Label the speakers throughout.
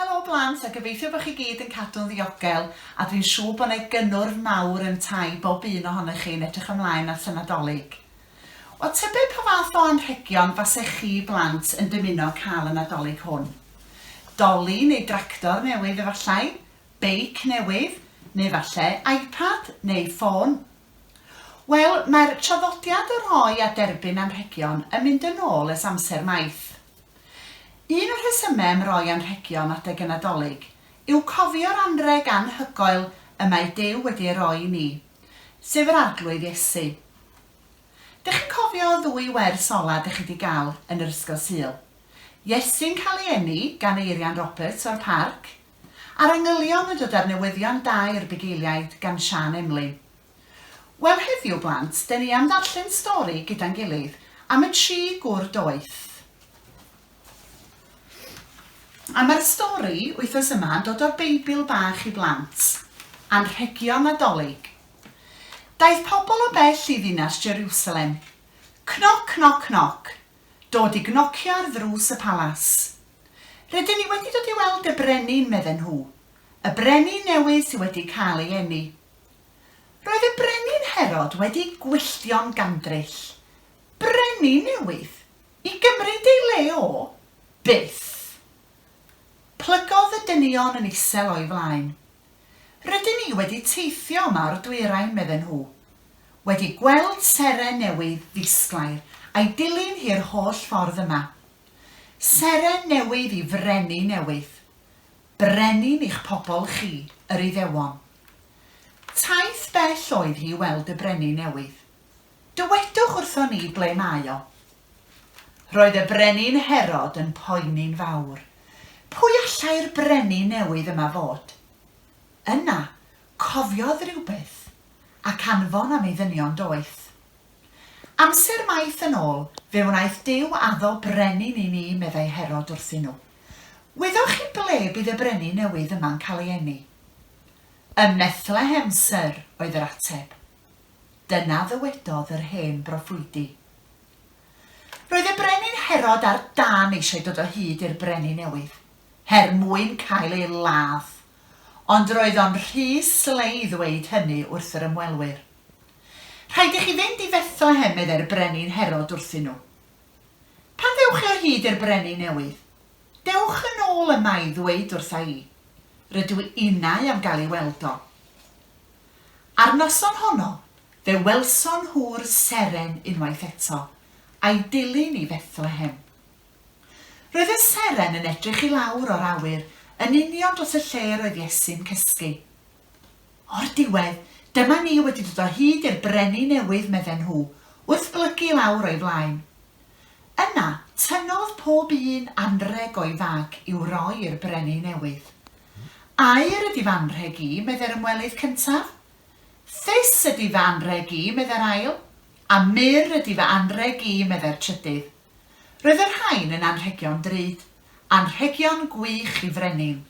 Speaker 1: Helo blant a gobeithio bod chi gyd yn cadw'n ddiogel a dwi'n siŵr bod yna gynnwrf mawr yntau bob un ohonoch chi yn edrych ymlaen at y Nadolig. Wel tybed pa fath o anrhegion fasech chi blant yn dymuno cael y Nadolig hwn? Doli neu dractor newydd efallai? Beic newydd? Neu falle iPad? Neu ffôn? Wel, mae'r traddodiad o roi a derbyn anrhegion yn mynd yn ôl ers amser maith. Un o'r rhesymau am roi anrhegion adeg y Nadolig yw cofio'r anrheg anhygoel y mae Duw wedi ei roi i ni, sef yr Arglwydd Iesu. Dych chi'n cofio y ddwy wers ola dych chi 'di gael yn yr Ysgol Sul? Iesu'n cael ei eni gan Eirian Roberts o'r Parc, Ar y nghylion y dydar newyddion da i'r bugeiliaid gan Siân Emlyn. Wel heddiw blant, de ni am ddarllen stori gyda'n gilydd am y tri gwr doeth. A mae'r stori wythnos yma yn dod o'r Beibl bach i blant, Anrhegion Nadolig. Daeth pobl o bell i ddinas Jerusalem. Cnoc, cnoc, cnoc, Dod i gnocio ar ddrws y palas. Rydyn ni wedi dod i weld y brenin, medden nhw. Y brenin newydd sydd wedi cael ei eni. Roedd y brenin Herod wedi gwylltio'n gandryll. Brenin newydd? I gymryd ei le o? Byth! Plygodd y dynion yn isel o'i flaen. Rydyn ni wedi teithio yma o'r dwyrain, medden nhw, wedi gweld seren newydd ddisglair a'i dilyn hi'r holl ffordd yma. Seren newydd i frenin newydd. Brenin i'ch pobl chi, yr Iddewon. Taith bell oedd hi i weld y brenin newydd. Dywedwch wrthon ni ble mae o. Roedd y brenin Herod yn poeni'n fawr. Pwy allai'r brenin newydd yma fod? Yna, cofiodd rywbeth, ac anfon am ei ddynion doeth. Amser maith yn ôl, fe wnaeth Duw addo brenin i ni, meddai Herod wrthyn nhw. Wyddoch chi ble bydd y brenin newydd yma'n cael ei eni? Ym Methlehem, syr, oedd yr ateb. Dyna ddywedodd yr hen broffwydi. Roedd y Brenin Herod ar dân eisiau dod o hyd i'r Brenin newydd, her mwyn cael ei ladd, ond roedd o'n rhy slei i ddweud hynny wrth yr ymwelwyr. Rhaid i chi fynd i Fethlehem, meddai'r Brenin Herod wrthyn nhw. Pan ddewch chi o hyd i'r Brenin newydd, dewch yn ôl yma i ddweud wrtha i, 'Rydw innau am gael ei weld o. A'r noson honno fe welson nhw'r seren unwaith eto, a'i dilyn i Fethlehem. Roedd y seren yn edrych i lawr o'r awyr yn union dros y lle yr oedd Iesu'n cysgu. O'r diwedd, dyma ni wedi dod o hyd i'r brenin newydd, medden nhw, wrth blygu i lawr o'i flaen. Yna, tynnodd pob un anrheg o'i fag i'w roi i'r brenin newydd. Aur ydi fy anrheg i, meddai'r ymwelydd cyntaf. Ffys ydi fy anrheg i, meddai'r ail. A mur ydi fy anrheg i, meddai'r trydydd. Roedd y rhain yn anrhegion drud. Anrhegion gwych i frenin.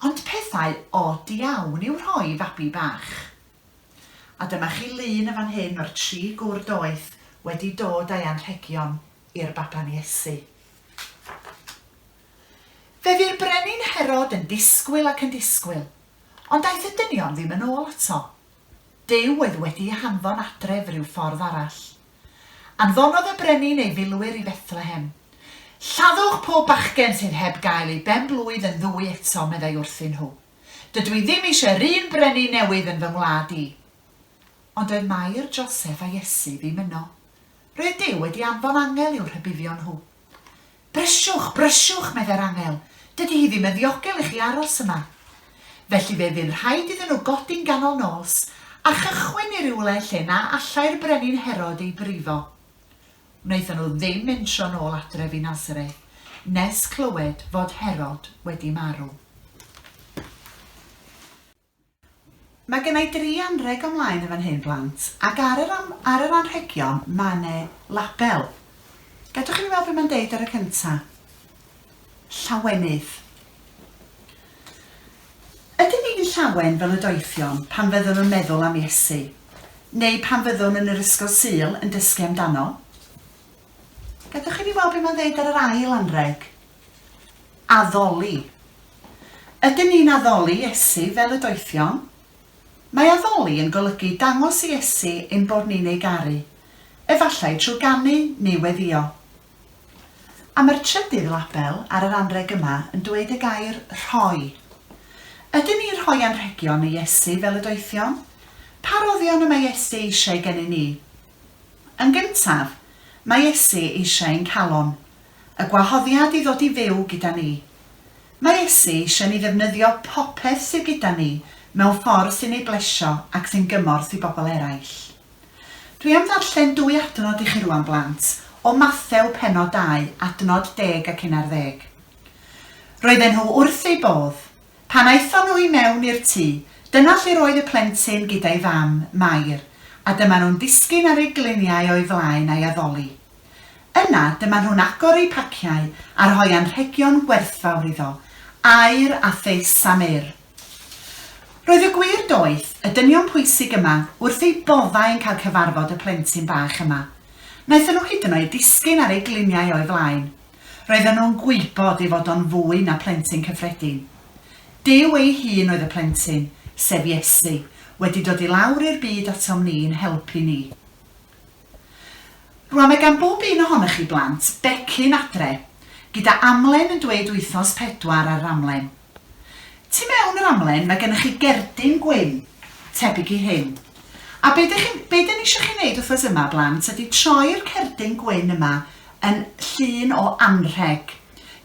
Speaker 1: Ond pethau od iawn i'w rhoi i fabi bach. A dyma chi lun yn fan hyn o'r tri gwr doeth wedi dod â'i anrhegion i'r baban Iesu. Fe fu'r brenin Herod yn disgwyl ac yn disgwyl, ond aeth y dynion ddim yn ôl ato. Duw oedd wedi'i hanfon adref ryw ffordd arall. Anfonodd y brenin ei filwyr i Fethlehem. Lladdwch pob bachgen sydd heb gael ei ben-blwydd yn ddwy eto, meddai wrthyn nhw. Dydw i ddim eisiau 'r un brenin newydd yn fy ngwlad i. Ond doedd Mair, Joseph a Iesu ddim yno. Roedd Duw wedi anfon angel i'w rhybuddio nhw. Brisiwch, brisiwch, meddai'r angel, dydy hi ddim yn ddiogel i chi aros yma. Felly fe fu'n rhaid iddyn nhw godi'n ganol nos a chychwyn i rywle lle na allai'r brenin Herod ei brifo. Wnaethon nhw ddim mentro'n ôl adref i Nazareth nes clywed fod Herod wedi marw. Mae genna i dri anrheg o mlaen yn fan hyn, blant, ac ar yr am- ar yr anrhegion mae 'ne label. Gadewch i mi weld be mae'n deud ar y cynta'. Llawenydd. Ydyn ni'n llawen fel y doethion pan fyddwn yn meddwl am Iesu, neu pan fyddwn yn yr Ysgol Sul yn dysgu amdano? Gadewch i mi weld be mae'n ddeud ar yr ail anrheg. Addoli. Ydyn ni'n addoli Iesu fel y doethion? Mae addoli yn golygu dangos i Iesu ein bod ni'n ei garu, efallai trwy ganu neu weddïo. A mae'r trydydd label ar yr anrheg yma yn dweud y gair 'rhoi'. Ydyn ni'n rhoi anrhegion i Iesu fel y doethion? Pa roddion y mae Iesu eisiau gennyn ni? Yn gyntaf, mae Iesu eisiau ein calon. y gwahoddiad i ddod i fyw gyda ni. Mae Iesu eisiau ni ddefnyddio popeth sydd gyda ni mewn ffordd sy'n ei blesio ac sy'n gymorth i bobl eraill. Dwi am ddarllen dwy adnod i chi rŵan, blant, o Mathew pennod 2 adnod deg ac unarddeg. Roedden nhw wrth eu bodd. Pan aethon nhw i mewn i'r tŷ, dyna lle roedd y plentyn gyda'i fam, Mair, a dyma nhw'n disgyn ar eu gliniau o'i flaen a'i addoli. Yna, dyma nhw'n agor eu paciau a rhoi anrhegion gwerthfawr iddo, aur a phys sameir. Roedd y gwir doeth, y dynion pwysig yma, wrth eu boddau yn cael cyfarfod y plentyn bach yma. Wnaethon nhw hyd yn oed disgyn ar eu gliniau o'i flaen. Roedden nhw'n gwybod ei fod o'n fwy na phlentyn cyffredin. Duw ei hun oedd y plentyn, sef Iesu, wedi dod i lawr i'r byd atom ni i'n helpu ni. Rwan mae gan bob un ohonoch chi blant becyn adre, gyda amlen yn dweud wythnos pedwar ar yr amlen. Tu mewn yr amlen mae gennych chi gerdyn gwyn, tebyg i hyn. A be dych chi'n, be dan ni eisiau chi wneud wythnos yma blant ydy troi'r cerdyn gwyn yma yn llun o anrheg.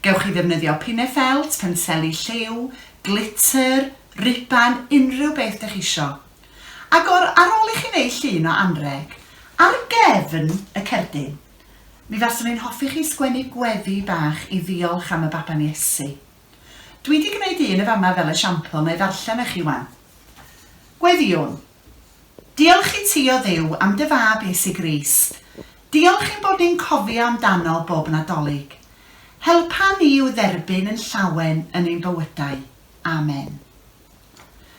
Speaker 1: Gewch chi ddefnyddio pine felt, penseli lliw, glitter, riban, unrhyw beth dych chi eisiau. Agor ar ôl i chi wneud llun o anrheg ar gefn y cerdyn. Mi faswn i'n hoffi chi sgwennu gweddi bach i ddiolch am y baban Iesu. Dwi 'di gneud un yn fama fel esiampl, na i ddarllen i chi 'wan. Gweddïwn. Diolch i ti o Dduw am dy fab Iesu Grist. Diolch ein bod ni'n cofio amdano bob Nadolig. Helpa ni i'w dderbyn yn llawen yn ein bywydau. Amen.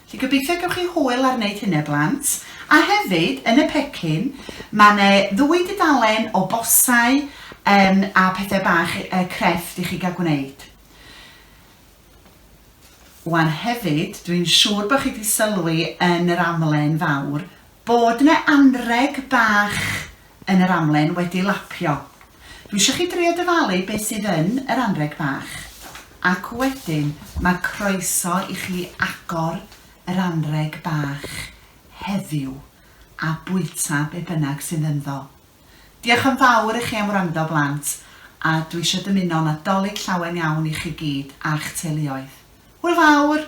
Speaker 1: Felly gobeithio gewch chi hwyl ar wneud hynny blant. A hefyd, yn y pecyn, mae 'ne ddwy dudalen o bosau yym a pethau bach yy crefft i chi gael gwneud. Wan hefyd, dwi'n siŵr bod chi wedi sylwi yn yr amlen fawr bod 'ne anreg bach yn yr amlen wedi lapio. Dwi isio chi drio dyfalu be sydd yn yr anreg bach ac wedyn mae croeso i chi agor yr anreg bach heddiw a bwyta be bynnag sydd ynddo. Diolch yn fawr i chi am wrando blant a dwi isio dymuno Nadolig llawen iawn i chi gyd a'ch teuluoedd. Hwyl fawr!